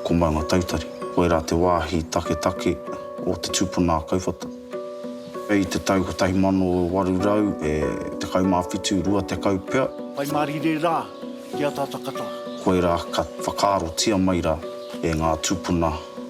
Ko Maunga Tautari, koirā te wāhi taketake o te tupuna a Kauwhata. I te tau 1817, 20 pea. Whai mārire rā ki a Tātakata. Koirā ka whakaarotia mai rā e ngā tūpuna.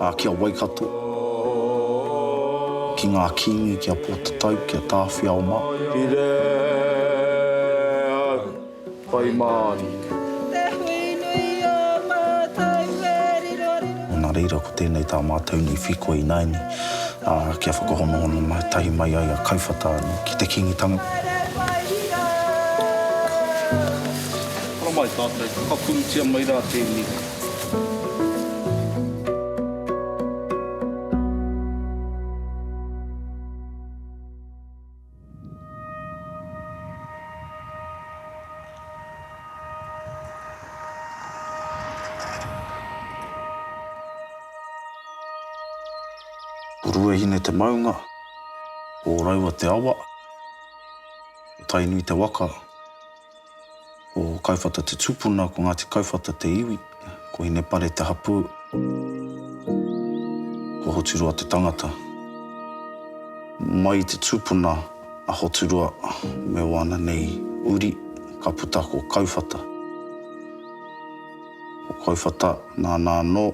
Ā, ki a Waikato, ki ngā Kīngi, ki a Pōtatau, ki a Tāwhiao mā. Pire au, whai māri. Te hui nui o mātou e riro riro. Nō nā reira ko tēnei tā mātou nei whiko ināianei, ā, kia whakahonohono mai, tahi mai ai a Kauwhata anō ki te Kīngitanga. Haere mai rā! Haere mai tātou, whakapurutia mai rā tēnei. Ruahine te maunga, Ōraua te awa, Tainui te waka. Ko Kaiwhata te tupuna, ko Ngāti Kauwhata te iwi, ko Hinepare te hapū, ko Hoturoa te tangata. Mai i te tupuna a Hoturoa me wāna nei uri, ka puta ko Kauwhata. O Kauwhata, nāna anō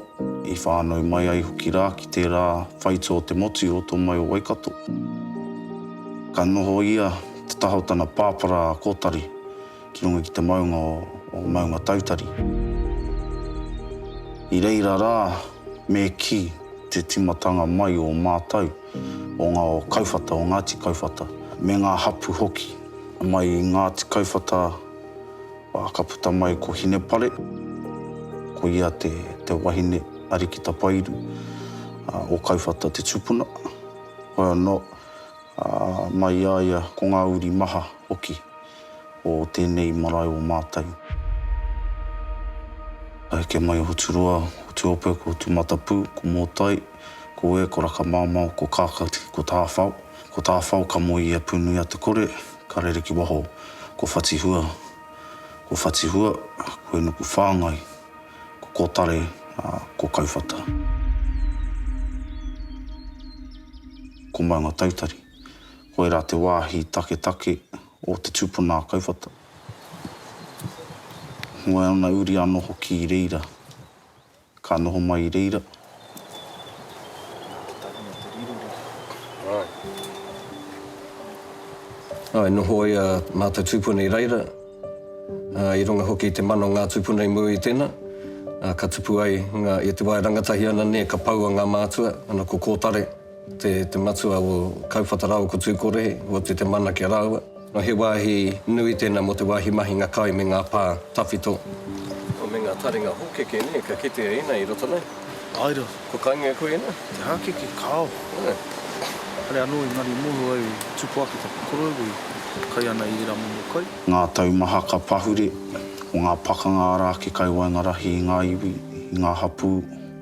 i whānau mai ai hoki rā ki tērā whaitū o te motu i roto mai o Waikato. Ka noho ia te taha o tana pāpara a Kōtari ki runga ki te maunga o Maungatautari. I reira rā me kī te timatanga mai o mātau, o ngā o Kauwhata, o Ngāti Kauwhata, me ngā hapu hoki mai i Ngāti Kauwhata, Ā, ka puta mai ko Hinepare, ko ia te, te wahine a Rikitapairu, ā, o Kauwhata te tupuna. Hoi anō, ā, mai i a ia ko ngā uri maha hoki o tēnei marae o Mātau. Ka heke mai a Hoturoa, ko Tuope, ko Tūmatapū, ko Mōtai, ko Ue, ko Rakamāmao, ko Kākati, ko Tāwhao. Ko Tāwhao ka moe i a Pūnuiatekore. Ka rere ki waho ko Whatihua, ko Whatihua, ko Enuku Whāngai, ko Kotare, ā, ko Kauwhata. Ko Maunga Tautari. Koirā te wāhi taketake o te tūpuna a Kauwhata. Moe ana uri anō hoki i reira. Ka noho mai i reira. Ka tahi mai te rirurira. Āe. Āe, noho ai a mātou tūpuna i reira, ā, i runga hoki i te mana o ngā tūpuna i mua i tēnā, ā, ka tupu ai ngā, i te wā e rangatahi ana, nē, ka poua ngā mātua, ana ko Kōtare. Te matua o Kauwhata rāua ko Tūkore, kua tū te mana ki a rāua. He wāhi nui tēnā mō te wāhi mahinga kai me ngā pā tawhito. Me ngā taringa hōkeke nē, ka kitea ēnei i roto nei. Āe rā. Kua kaingia koe i ēnei? Te hākeke, kāo. Kare anō i ngari moho au i tupu ake taku koroua i kai ana i ērā momo kai. Ngā tau maha ka pahure, ko ngā pakanga arā ake kai waenga rahi i ngā iwi, i ngā hapū.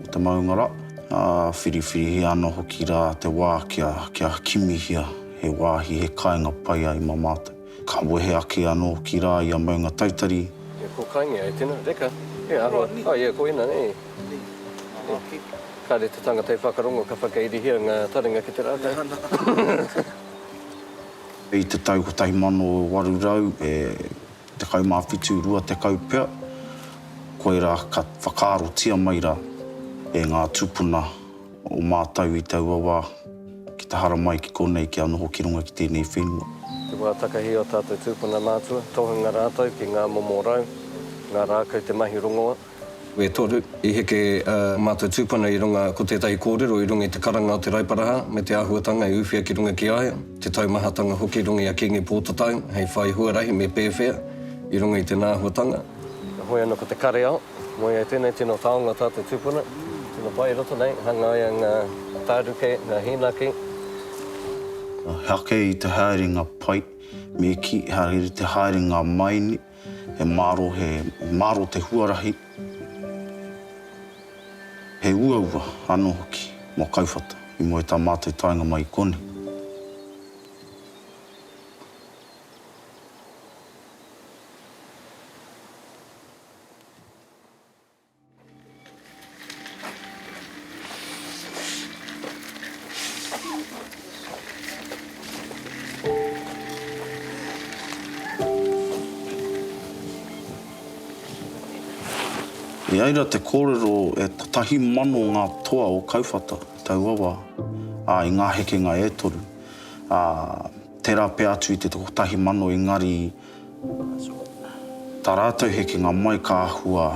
o te maungara, ā, whiriwhirihia ana hoki rā te wā kia, kia kimihia he wāhi, he kāinga pai ai mā mātou. Ka wehe ake anō hoki rā ia maunga taitari. Ia ko Kaingia e tena, reka, e aroa, oh ia ko ina, e, e, kare te tangata e whakarongo ka whakairihia nga taringa ki te rakau. I te tau 1800 e. Tekau mā whitu, rua tekau pea, koirā ka whakaarotia mai rā e ngā tūpuna o mātou i taua wā ki te haramai ki konei kia noho ki runga ki tēnei whenua. Te wā takahi o tātou tūpuna mātua, tohunga rātou ki ngā momo rau, ngā rākau te mahi rongoa. E toru, i heke ā mātou tūpuna i runga ko tētahi kōrero i runga i te karanga o Te Raiparaha me te āhuatanga e uwhia ki runga ki a ia, te taumahatanga hoki i runga i a Kīngi Pōtatau hei whai huarahi me pēwhea i runga i tēnā āhuatanga. Heoi anō ko te kareao, moe ai tēnei tino taonga tā te tūpuna, tino pai i roto nei, hangaia ngā tāruke, ngā hīnaki. He ake i te haerenga pai, me kī, he ake i te haerenga maini. He maro, he maro te huarahi, he uaua ano hoki mo Kauwhata i mua i ta matou taenga mai i konei. I reira te kōrero e kotahi mano ngā toa o Kauwhata i taua wā, ā, i ngā hekenga e toru, ā, tērā pea atu i te kotahi mano engari, Tā rātou hekenga mai ka āhua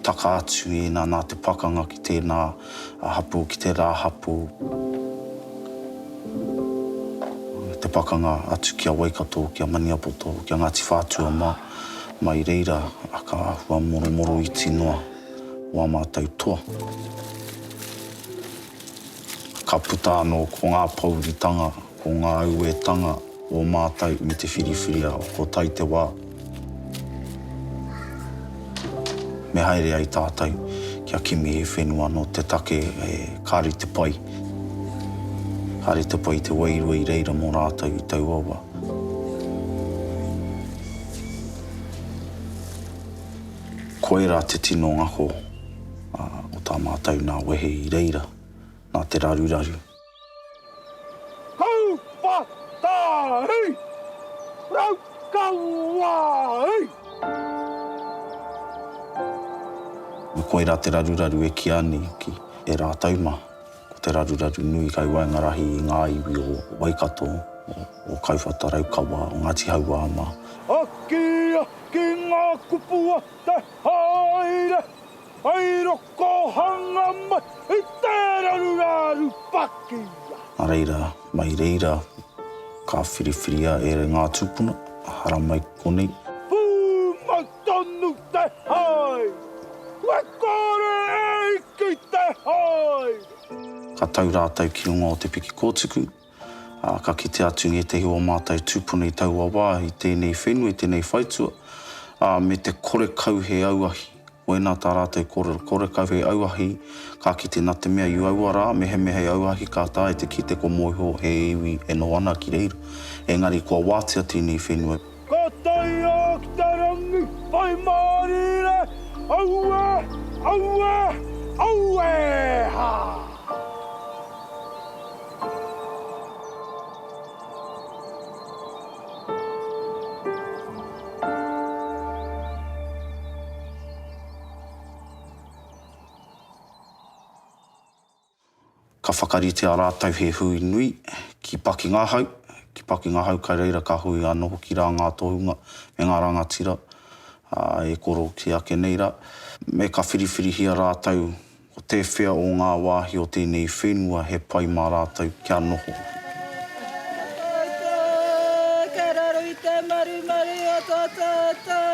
taka atu ina nā te pakanga ki tēnā hapū, ki tērā hapū, me te pakanga atu ki a Waikato, ki a Maniapoto, ki a Ngāti Whātua mā, mai reira ka āhua moromoroiti noa wā mātou toa. Ka puta anō ko ngā pōuritanga, ko ngā auētanga o mātou me te whiriwhiriao, ko tai te wā me haere ai tātou kia kimi he whenua nō te take e ka rite pai, ka rite pai te wairua i reira mō rātou i taua wā. Koirā te tino ngako. Ā, ko tā mātou nā wehe i reira, nā te raruraru. Kauwhatahi! Raukawahi! Me koirā te raruraru e kīa nei ki e rātou mā, ko te raruraru nui kai waenga rahi i ngā iwi o Waikato, o Kauwhata Raukawa, o Ngāti Hauā mā. Akiaki ngā kupu a te haere Hai rokohanga mai i tērā ruraru pakia. Nā reira, mai reira, ka whiriwhiria ērā ngā tūpuna, hara mai ki konei. Pūmau tonu te haere. Kua kore e ike i te haere. Ka tau rātou ki runga o te piki kōtuku. Ā, ka kite atu ngētehi o ō mātou tūpuna i taua wā, i tēnei whenua, i tēnei whaitua, ā, me te korekau he auahi. Wēnā tā rātou kōrero, korekau he auahi, ka kite nā te mea i aua rā, mehemea hei auahi ka taea te kite ko Moeho he iwi e noho ana ki reira, engari kua wātea tēnei whenua. Ka tae a ki te rangi whai mārire, aue, aue, aue hā! Ka whakaritea rātou he hui nui ki Pakingahau, ki Pakingahau kai reira ka hui anō hoki rā ngā tohunga me ngā rangatira, ā, e koro kē ake nei rā. Me ka whiriwhirihia rātou ko tēwhea o ngā wāhi o tēnei whenua he pai mā rātou kia noho. Kei raro i te marumaru o tō tātou.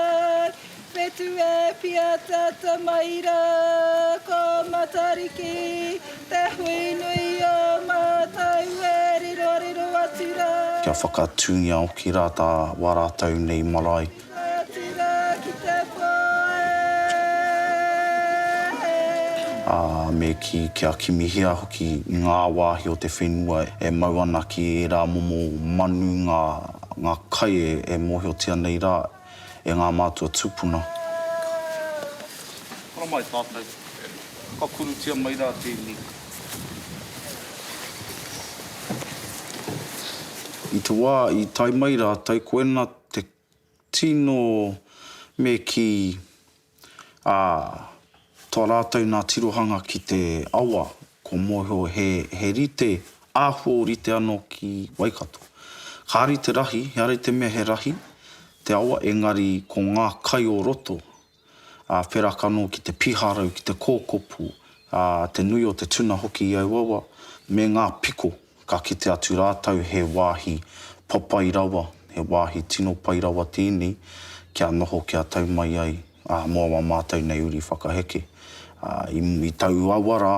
Whetū e Pia tata mai ra Ko Matariki te hui nui o matou E riro riro atu ra. Kia whakatūngia hoki ra ta wa ratou nei marae. Atu ra ki te po e. A me ki kia kimihia hoki nga wahi o te whenua e mau ana ki era momo manu nga nga kai e mohiotia nei ra. e ngā mātua tūpuna. Kura mai tātou. Ka kurutia mai rā tēnei. I te wā i tae mai rātou, koina te tino me kī. Ā, tā rātou nā tirohanga ki te awa, ko Moeho he, he rite, āhua o rite anō ki Waikato. Kāre te rahi, heare i te mea he rahi, te awa, engari ko ngā kai o roto, ā, wheraka anō ki te piharau, ki te kōkopu, ā, te nui o te tuna hoki i aua awa, me ngā piko. Ka kite atu rātou he wāhi papai rawa, he wāhi tino pai rawa tēnei kia noho, kia tau mai ai mō ā mātou nei uri whakaheke. I taua wa rā,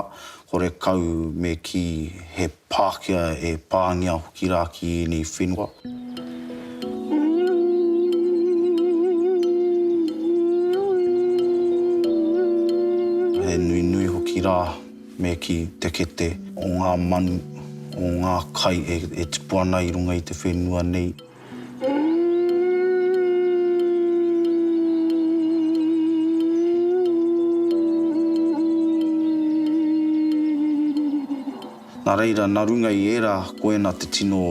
horekau me kī he Pākehā e pāngia hoki rā ki ēnei whenua. He nui nui hoki rā. me kī, te kete o ngā manu, o ngā kai e tipu ana i runga i te whenua nei. Nā reira, nā runga i ērā, koina te tino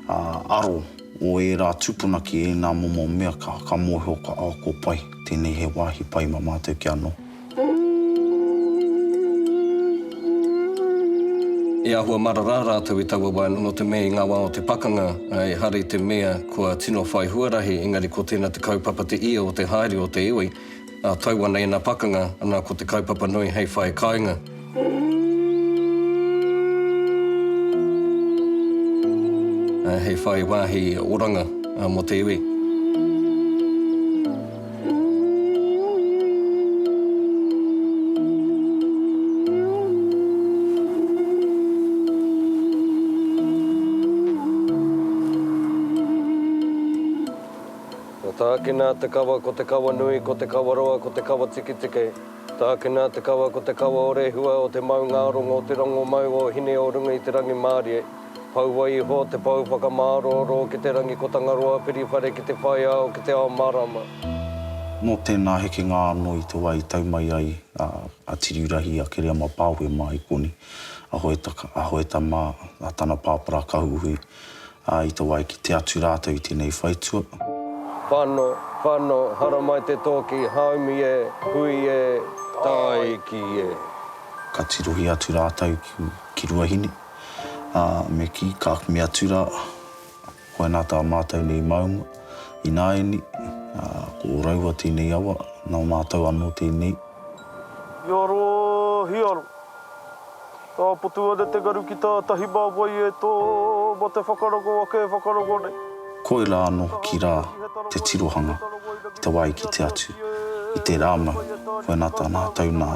aro o ērā tūpuna ki ēnā momo mea ka mōhio, ka, oh, ko pai, tēnei he wāhi pai mā mātou kia noho. E āhua marara rātou i taua wā noa te mea i ngā wā o te pakanga, ehara i te mea kua tino whai huarahi, engari ko tēnā te kaupapa te ia o te haere o te iwi, ā, tau ana ēnā pakanga, ana ko te kaupapa nui hei whai kāinga. He whai wāhi oranga mō te iwi. Kua tākina te kawa, ko te kawa nui, ko te kawa roa, ko te kawa tiketike. Tākina te kawa ko te kawa o Rehua o te maungārongo o te rongomau o Hine-o-runga-i-te-rangi-mārie, paua iho te pou whakamārooro ki te rangi ko Tangaroa piriwhare ki te whaiao ki te ao marama. Nō tēnā hekenga anō i te wā i tau mai ai a Tiriurahi, a Kereama Pāohe mā Ikoni, a Hoetaka, a Hoeta mā tana pāpara Kahuhui, Ā, i to wai ki te atu rātou i tēnei whaitua. Whano, whano, haramai te tōki, haumi e, hui e, tāiki e. Ka tirohi atu rātou ki Ruahine, ā, me kī, Kāk me atu rā, koinā tā mātou nei maunga, ināiane, ā, ko ō raua tēnei awa, nō mātou anō tēnei. Hiaro, hiaro. Ka potu ane te ngaru ki tātahi mā wai e tō, mā te whakarongo ake e whakarongo nei. Koirā anō hoki rā te tirohanga i te wā i kite atu i tērā mau, koinā tā mātou nā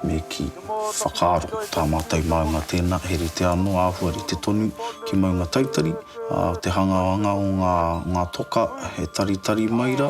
me kī, whakaaro tā mātou māunga tēnā he rite anō āhua rite tonu ki Maungatautari, ā, te hangāwanga o ngā toka he taritari mai rā,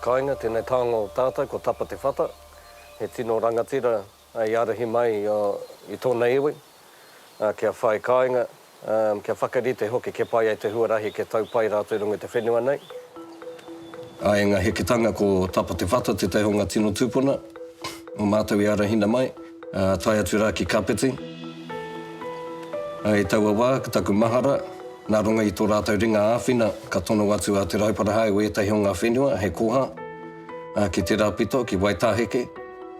Kainga tenei taonga o tatou ko Tapa Te Whata, he tino rangatira i arahi mai i tona iwi kia whai kainga, kia whakarite hoki ke pai ai te huarahi ke tau pai ratou i runga i te whenua nei. I enga heketanga ko Tapa Te Whata te taihonga tino tupuna o matou i arahina mai. Ā, tae atu rā ki Kapiti. Ā, i taua wā, ko taku mahara, nā runga i tō rātou ringa āwhina, ka tono atu a Te Rauparaha e wētahi o ngā whenua hei koha, ā, ki tērā pito, ki Waitāheke,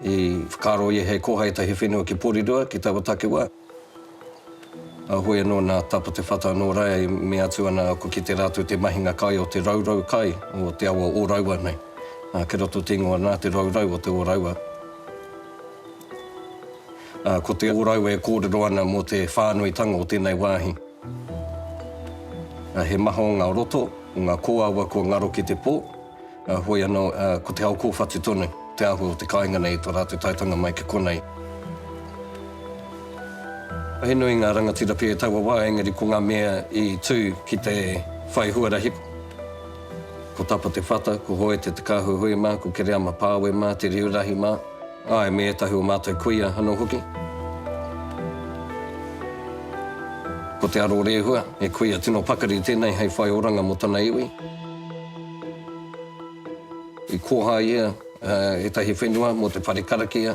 i whakaaro ia hei koha ētahi whenua ki Porirua, ki taua takiwā. Ahui anō nā Tapa Te Whata anō rā e mea atu ana aku ki te rātou te mahinga kai o te raurau kai o te awa o Raua nei. Ā, kei roto te ingoa nā te raurau o te o Raua. Ā, ko te o Raua e kōrero ana mō te whānuitanga o tēnei wāhi. Ā, he maha o ngā roto, o ngā kōawa kua ngaro ki te pō. Heoi anō, ko te ao kōwhatu tonu te āhua o te kāinga nei i tō rātou taetanga mai ki konei. He nui ngā rangatira pea i taua wā, engari ko ngā mea i tū ki te whai huarahi, ko Tapa Te Whata, ko Hoete Te Kāhuihui mā, ko Kereama Pāwe mā, Te Riurahi mā, āe, me ētahi o mātou kuia anō hoki. Ko Te Arorēhua, he kuia tino pakari tēnei hei whai oranga mō tana iwi. I koha ia ētahi whenua mō te whare karakia.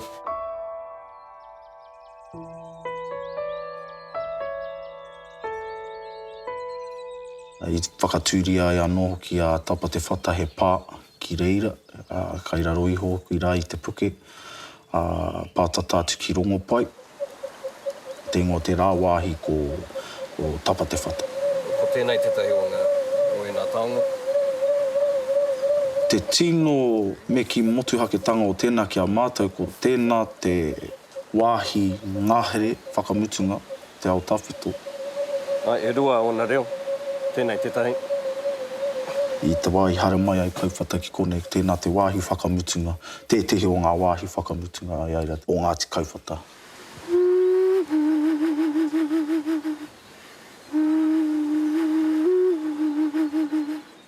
I whakatūria ai anō hoki a Tapa Te Whata he pā ki reira, kai raro iho hoki rā i te puke. Ā, pātata atu ki Rongopai, te ingoa tērā wāhi ko Tapatewhata. Ko tēnei tētahi o ngā, o ēnā taonga. Te tino me kī motuhaketanga o tēnā ki a mātou ko tēnā te wāhi ngahere whakamutunga. te ao tawhito. Ai, e rua ōna reo, tēnei tētahi. I te wā i haere mai ai Kauwhata ki konei, tēnā te wāhi whakamutunga, tētehi o ngā wāhi whakamutunga a Iaira o Ngāti Kauwhata.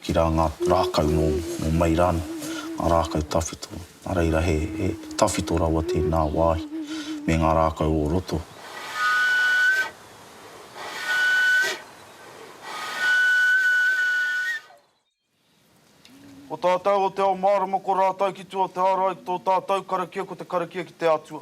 Ki rā ngā rākau nō mai rānei, ngā rākau tawhito, nā reira he tawhito rawa tēnā wāhi me ngā rākau o roto. Ko tātou o te ao mārama ko rātou ki tua o te ārai, tō tātou karakia ko te karakia ki te Atua.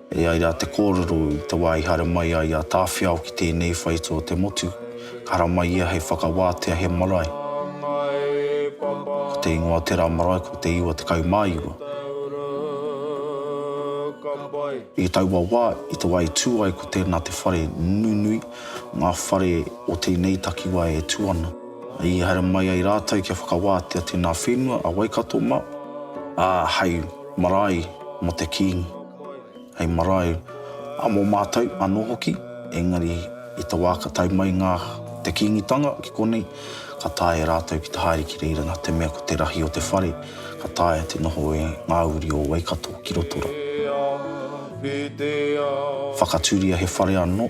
E ai rā te kōrero, i te wā i haere mai ai a Tāwhiao ki tēnei whaitū o te motu, ka haramai ia hei whakawātea he marae. Ko te ingoa o tērā marae ko Te Iwa Tekau mā Iwa. I taua wā, i te wā i tū ai ko tēnā te whare nunui o ngā whare o tēnei takiwā e tū ana. I haere mai ai rātou kia whakawātea tēnā whenua a Waikato mā, ā, hei marae mō te Kīngi. hei marae a mō mātou anō hoki, engari i te wā ka tae mai ngā te Kīngitanga ki konei, ka taea e rātou ki te haere ki reira nā te mea ko te rahi o te whare, ka taea te noho e ngā uri o Waikato ki Rotorua. Whakaturia he whare anō.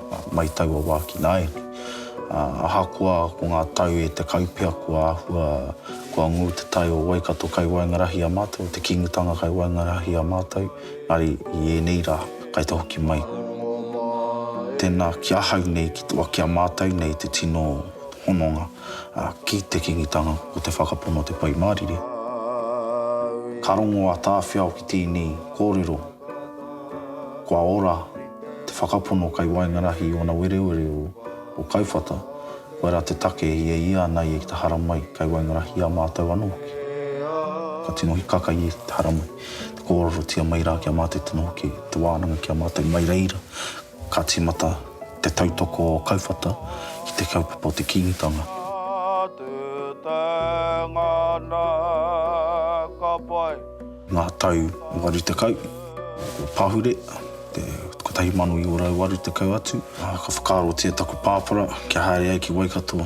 Mai taua wā ki nāianei. Ahakoa ko ngā tau e tekau pea kua āhua, kua ngū te tai o Waikato kai waengarahi i a mātou, o te Kīngitanga kai waengarahi i a mātou, engari i ēnei rā, kai te hoki mai. Tēnā ki ahau nei, ki a mātou nei te tino hononga ki te Kīngitanga ko te whakapono o te Pai Mārire. Ka rongo a Tāwhiao ki tēnei kōrero. Kua ora te whakapono kei waengarahi i ōna werewere o o Kauwhata, koia rā te take i e ia ana ia ki te haramai kei waengarahi i a mātou anō hoki. Ka tino hikaka ia ki te haramai, te kōrerotia mai rā ki a mātou tino hoki te wānanga ki a mātou mai reira. Ka tīmata te tautoko o Kauwhata ki te kaupapa o te Kīngitanga. Ngā tau 80. Ko Pahure, te 1980 atu, ka whakaarotia taku pāpara kia haere ai ki Waikato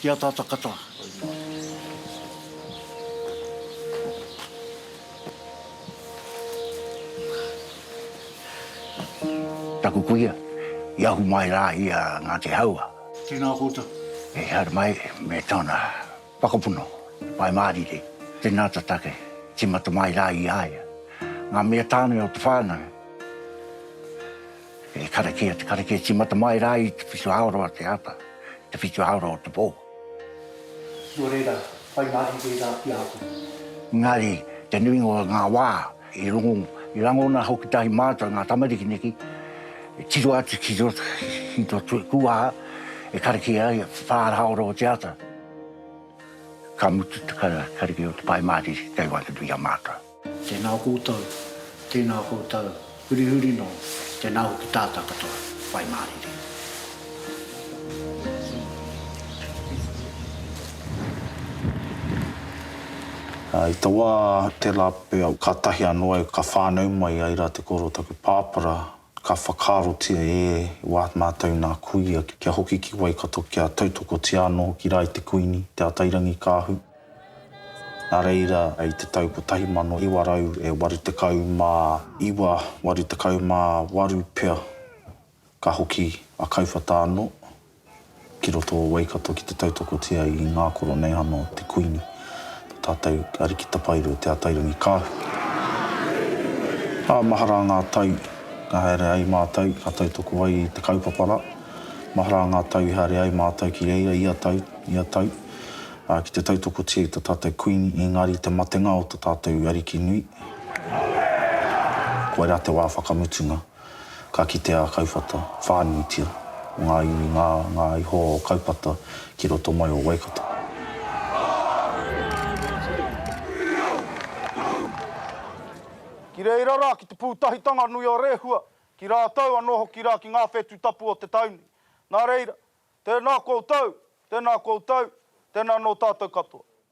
Ki a tata kata. Taku kuia, i ahu mai rā i a Ngāti Haua. Tēnā koutou. E haere mai me tōna whakapono, Whai Mārire. Tēnā ta take, tīmata mai rā i a ia. Ngā mea tāne o te whānau. He karakia te karakia tīmata mai rā i te whitu hāora o te ata, i te whitu hāora o te pō. Nō reira, whai mahi reira ki a koe. Engari, te nuinga o ngā wā, i rongo, i rangona hoki tahi mātou, ngā tamariki neki, e tiro atu ki roto, ki tō tū kūwaha, e karakia ai te whāra hāora o te ata. Ka mutu te karakia o te Pai Mārire kei waenganui i a mātou. Tēnā koutou, tēnā koutou, hurihuri nō, tēnā hoki tātā katoa, whai mārire. I te wā tērā pea, kātahi anō au ka whānau mai, ai rā te kōrero o taku pāpara, Ka whakaarotia e Watt mātou nā kuia kia hoki ki Waikato kia tautokotia anō ki rā i te Kuini, Te Atairangikaahu. Nā reira, i te tau 1989, 88 pea, ka hoki a Kauwhata anō. Ki roto o Waikato ki te tautokotia i ngā Koroneihana o te Kuini, tō tātou Ariki Tapairu Te Atairangikaahu. Ā, mahara ngā tau ka haere ai mātou, ka tautoko ai i te kaupapa rā. Mahara ngā tau i haere ai mātou ki reira ia tau, ia tau, ā, ki te tautokotia i tō tātou Kuini, engari i te matenga o tō tātou Ariki nui, koirā te wā whakamutunga. Ka kitea a Kauwhata whānuitia o ngā iwi ngā ngā iho o Kaupata ki roto mai o Waikato. Ki reira rā ki te pūtahitanga nui o Rehua, ki rātou anō hoki rā ki ngā whetū tapu o te tau nei. Nā reira, tēnā koutou, tēnā koutou, tēnā nō tātou katoa.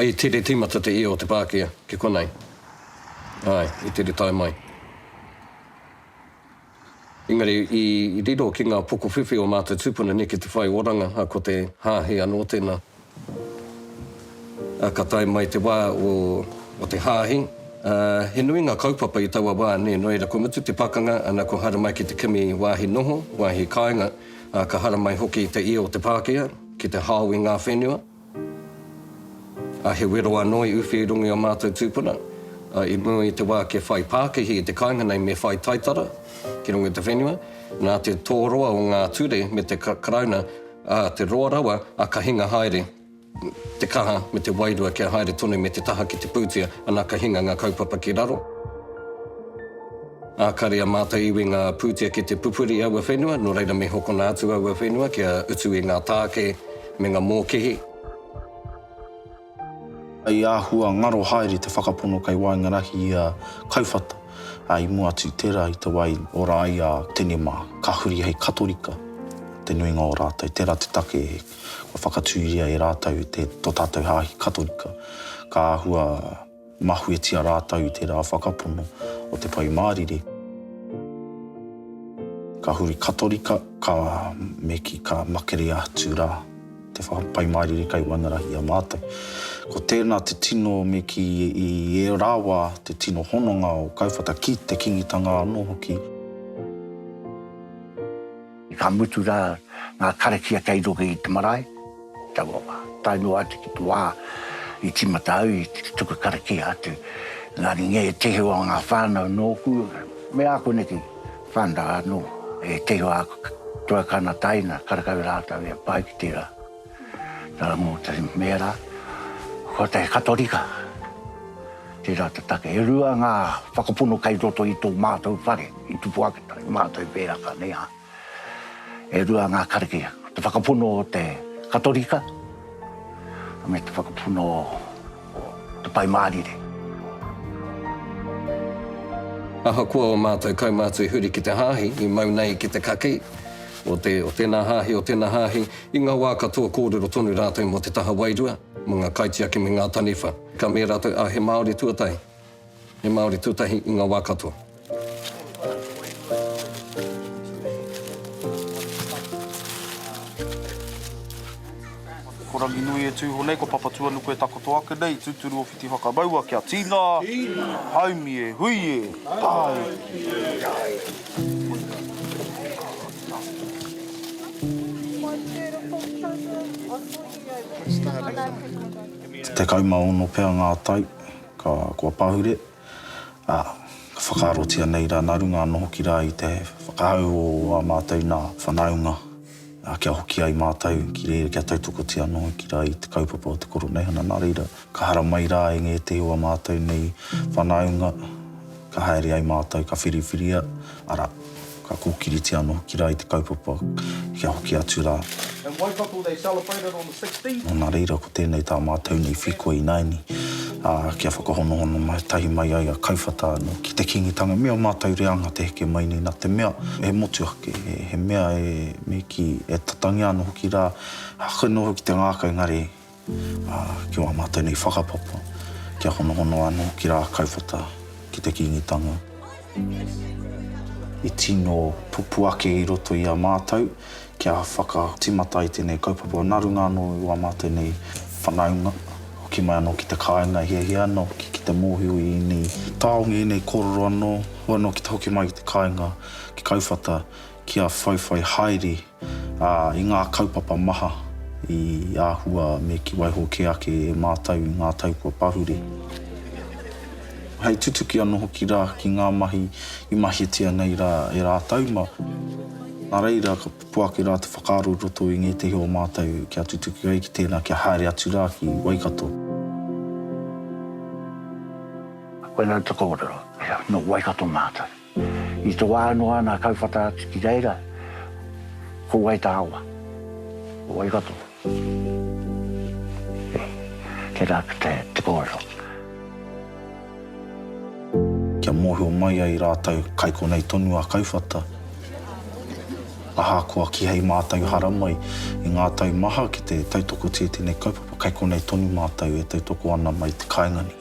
I tere tīmata te hia o te pākia ki konei. Āe, i tere tae mai. Engari, i riro ki ngā pokowhiwhi o mātou tūpuna neke te whai oranga, a, ko te hāhi anō tēnā. Ka tae mai te wā o te Hāhi. He nui ngā kaupapa i taua wā nē, nō reira kua mutu te pakanga, ana kua haramai ki te kimi wāhi noho, wāhi kāinga, ā, ka haramai hoki te ia o te Pākehā ki te hao i ngā whenua, ā, he wero anō i uwhi i runga i ō mātou tūpuna, ā, i mua i te wā kia whai pākihi i te kāinga nei me whai taitara ki runga i te whenua, nā te tōroa o ngā ture me te Karauna Ā te roa rawa a Kahinga haere te kaha me te wairua kia haere tonu me te taha ki te pūtea, ana Kahinga ngā kaupapa ki raro. Ā kare a Mātai iwi ngā pūtea ki te pupuri i aua whenua, nō reira me hokona atu aua whenua kia utu i ngā tāke me nga mōkihi. Hei āhua ngaro haere te whakapono kei waenga rahi i a Kauwhata, ā, i mua atu i tērā i te wā i ora ai a Tene mā, ka huri hei Katorika te nuinga o rātou, tērā te take kua whakatūria e rātou tō tātou hāhi Katorika, ka āhua. Mahuetia rātou i tērā whakapono o te Pai Mārire. Ka huri Katorika, ka me ki ka makerea atu rā te Pai Mārire kei waenarahi i a mātou. Ko tēnā te tino me ki i ērā wā te tino hononga o kauwhata ki te Kingitanga anō hoki. Ka mutu rā ngā karakia kei runga i te marae, taua wā. Tae noa atu ki te wā i tīmata au i te tuku karakia atu, engari ngē tehi o ngā whānau nōku me āku neke whānau anō, ētehi o āku tuakana taina, karekau rātou e pae ki tērā. Nā, mō te mera, ko te Katorika tērā te take. E rua ngā whakapono kei roto i tō mātou whare, i tupu ake tonu mātou pēraka nei ā. E rua ngā karakia, te whakapono o te Katorika me te whakapono o te Pai Mārire. Ahakoa ō mātou kaumātua i huri ki te Hāhi, i mau nei ki te kakī, o te, o tēnā hāhi, o tēnā hāhi, i ngā wā katoa kōrero tonu rātou mō te taha wairua, mō ngā kaitiaki me ngā taniwha. Ka mea rātou, ā, he Māori tuatahi, he Māori tuatahi i ngā wā katoa. Ko Ranginui e tū iho nei, ko Papatuanuku e takoto ake nei, tūturu o Whiti Whakamaua kia tīnā, haumi e, hui e, tāiki e. Tekau ma ono pea nga tau kua pahure, a, ka whakaarotia nei ra naru nga noho ki ra i te whakahau o a matou na whanaunga. kia hoki ai mātou ki reira, kia tautokotia anō ki rā i te kaupapa o te Koroneihana. Nā reira, ka haramai rā e ngētehi o ā mātou nei whanaunga, ka haere ai mātou, ka whiriwhiria, arā, ka kōkiritia anō ki rā i te kaupapa kia hoki atu rā. Nā reira ko tēnei tā mātou nei wheako ināiani, ā, kia whakahonohono mai tahi mai ai a Kauwhata anō ki te Kīngitanga me ō mātou reanga te heke mai nei nā te mea he motu ake, he mea e, me kī, e tatangia ana hoki rā, haka noa hoki te ngākau engari, ā, ki wā mātou nei whakapapa, kia honohono anō hoki rā a Kauwhata ki te Kīngitanga. I tino pupū ake i roto i a mātou Kia whakatimata i tēnei kaupapa narunga anō i wā mā tēnei whanaunga, hoki mai anō ki te kāinga, hiahia ana hoki ki te mōhio i ēnei taonga, i ēnei kōrero anō, hua anō ki te hoki mai ki te kāinga, ki Kauwhata, kia whaiwhai haere i ngā kaupapa maha i āhua me ki waiho kē ake e mātou i ngā tau kua pahure. Hei tutuki anō hoki rā ki ngā mahi i mahitia nei rā e rātou, mā. Nā reira, ka pupu ake rā te whakaaro i roto i ngētehi o mātou kia tutuki ai ki tēnā kia haere atu rā ki Waikato. Koinei te kōrero, nō Waikato mātou. I te wā noa nā Kauwhata atu ki reira, ko wai tā awa? Ko wai katoa? Tērā atu te kōrero. Kia mōhio mai ai rātou kai konei tonu a Kauwhata, ahakoa kihei mātou haramai i ngā tau maha ki te tautoko tia tēnei kaupapa, kai konei tonu mātou e tautoko ana mai te kāinga nei.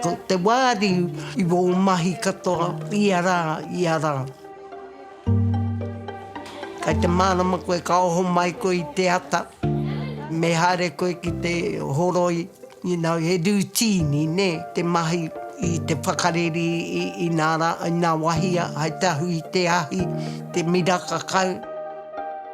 Ko te wāri i wō mahi katoa ia rā, ia rā. Kai te mārama koe ka oho mai koe i te ata, me haere koe ki te horoi, you know, he rūtīni, nē, te mahi i te whakareri i, i nā rā, i nā wahia, hai te ahu i te ahi, te miraka kau.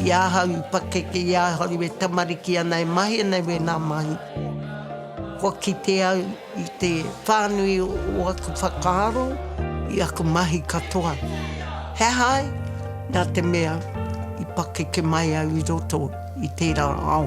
I ahau i pakeke i ahau e tamariki ana e mahi ana i wēnā mahi. Kua kite au i te whānui o aku whakaaro i aku mahi katoa. He aha ai? Nā te mea i pakeke mai au i roto i tērā ao.